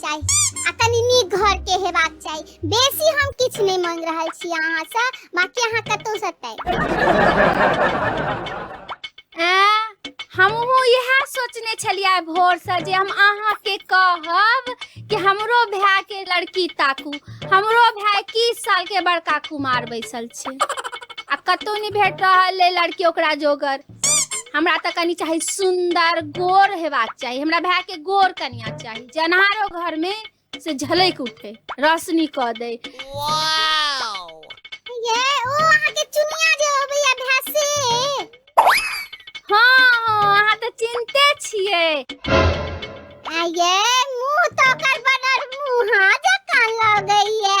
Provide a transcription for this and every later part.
चाही आ कनि नीक घर के हेबाक चाही बेसी हम किछु नहि मांग रहल छी अहाँ से बाकी अहाँ कतौ से तय हमहूँ इएह सोचने छलियै भोरसँ जे हम अहाँके कहब कि हमरो भायके लड़की ताकू हमरो भाय इक्कीस सालके बड़का कुमार बैसल छै आ कतहु नहि भेट रहल अइ लड़की ओकरा जोगर हमरा तऽ कनि चाही सुन्दर गोर हेबाक चाही हमरा भाय के गोर कनिया चाही जे अन्हारो घर में से झलक उठे रोशनी कऽ दे ये ओ अहाँ के चुनिया जे अबैया भए से हँ हँ अहाँ तऽ चिन्ते छियै आ ये मुंह तो ओकर बनल मुंह जकाँ लगैया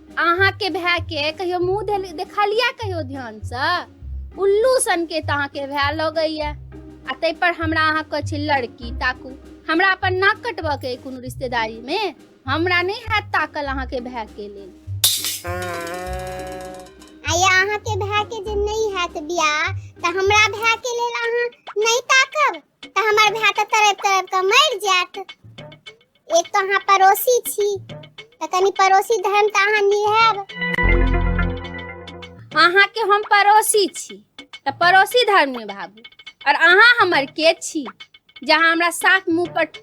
अहाँके भाय के कहियो मुंह देल- देखलिया कहियो ध्यान से उल्लू सन के तऽ अहाँके भाय लगैया आ ताहि पर हमरा अहाँ कहै छी लड़की ताकू हमरा अपन नाक कटबऽ के अइ कोनो रिश्तेदारी मे हमरा नहि हैत ताकल अहाँके भाय के लेल आ या अहाँके भाय के जे नहि हैत बियाह तऽ हमरा भाय के लेल अहाँ नहि ताकब तऽ हमर भाय तऽ तरैप तरैप कऽ मरि जायत एक तऽ अहाँ पड़ोसी छी तऽ कनि पड़ोसी धर्म तऽ अहाँ निहैब अहाँके हम पड़ोसी छी तऽ पड़ोसी धर्म निभाबू और अहाँ हमर के छी जहाँ हमरा साफ मुँह पर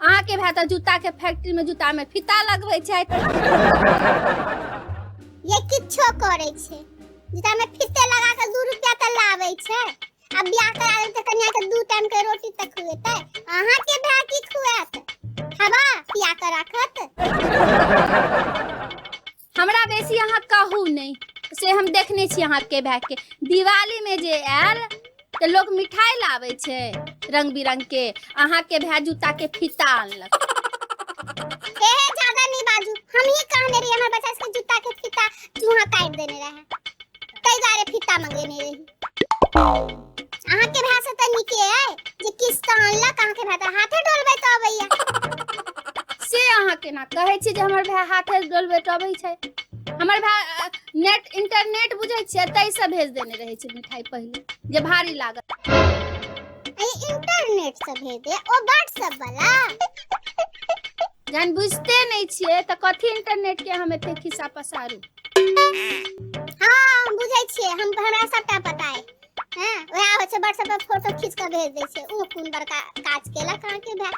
अहाँके भाय तऽ जूताके फैक्ट्रीमे जूतामे फीता लगबै छथि ये किछो करै छै जूतामे फीते लगा कऽ दू रुपया तऽ लाबै छै आ बियाह करा देब तऽ कनिया के दू टाइम के रोटी तऽ खुएतै अहाँके भाय की खुआत हवा पिया कऽ राखत हमरा बेसी अहाँ कहू नहि से हम देखने छी अहाँके भायके दिवालीमे जे आयल तऽ लोक मिठाइ लाबै छै रंग बिरंगके अहाँके भाय जूताके फीता अनलक एहे ज्यादा नहीं बाजू हम ही कहने रही हमारे बच्चा के जूता के फीता चूहा काट देने रहे कई बार फीता मंगेने रही अहाँ के भाषा से तऽ नीके अइ जे किछ तऽ अनलक अहाँ के भाषा हाथे डोलबै तऽ अबैया से अहाँ केना कहै छी जे हमर भाय हाथे डोलबै तऽ अबै छै हमर भाय नेट इंटरनेट बुझै छियै ताहिसँ भेज देने रहै छै मिठाई पहिले जे भारी लागत अरे इंटरनेट से भेज दे ओ व्हाट्सएप वाला जहन बुझते नहि छियै तऽ कथी इंटरनेट के हम एते खिस्सा पसारू हँ हम बुझै छियै हम हमरा सबटा पता है हँ वएह होइ छै व्हाट्सएप पर फोटो खींच कऽ भेज दै छै ओ कोन बड़का काज केलक अहाँके भाय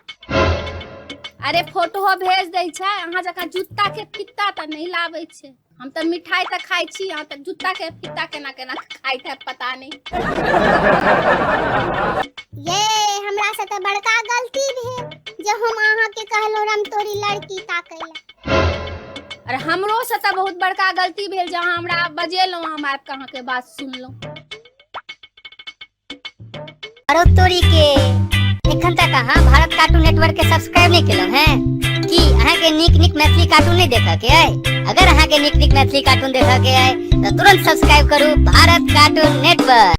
अरे फोटो भेज दै छै अहाँ जकाँ जूता के फित्ता तऽ नहि लाबै छै हम तऽ मिठाई तऽ खाइ छी अहाँ तऽ जूता के फीता केना केना खाइत है पता नहीं ये हमरा से तऽ बड़का गलती भेल जे हम अहाँ के कहलो राम तोरी लड़की ताकै ला अरे हमरो से तऽ बहुत बड़का गलती भेल जे अहाँ हमरा बजेलहुँ हम आबि कऽ अहाँके बात सुनलहुँ अरे तोरी के एखन तक अहाँ भारत कार्टून नेटवर्क के सब्सक्राइब नहीं केलहुँ हैं की अहाँ के नीक नीक मैथिली कार्टून नहीं देखऽ के अइ अगर अहाँ के नीक नीक मैथिली कार्टून देखऽ के अइ तो तुरंत सब्सक्राइब करू भारत कार्टून नेटवर्क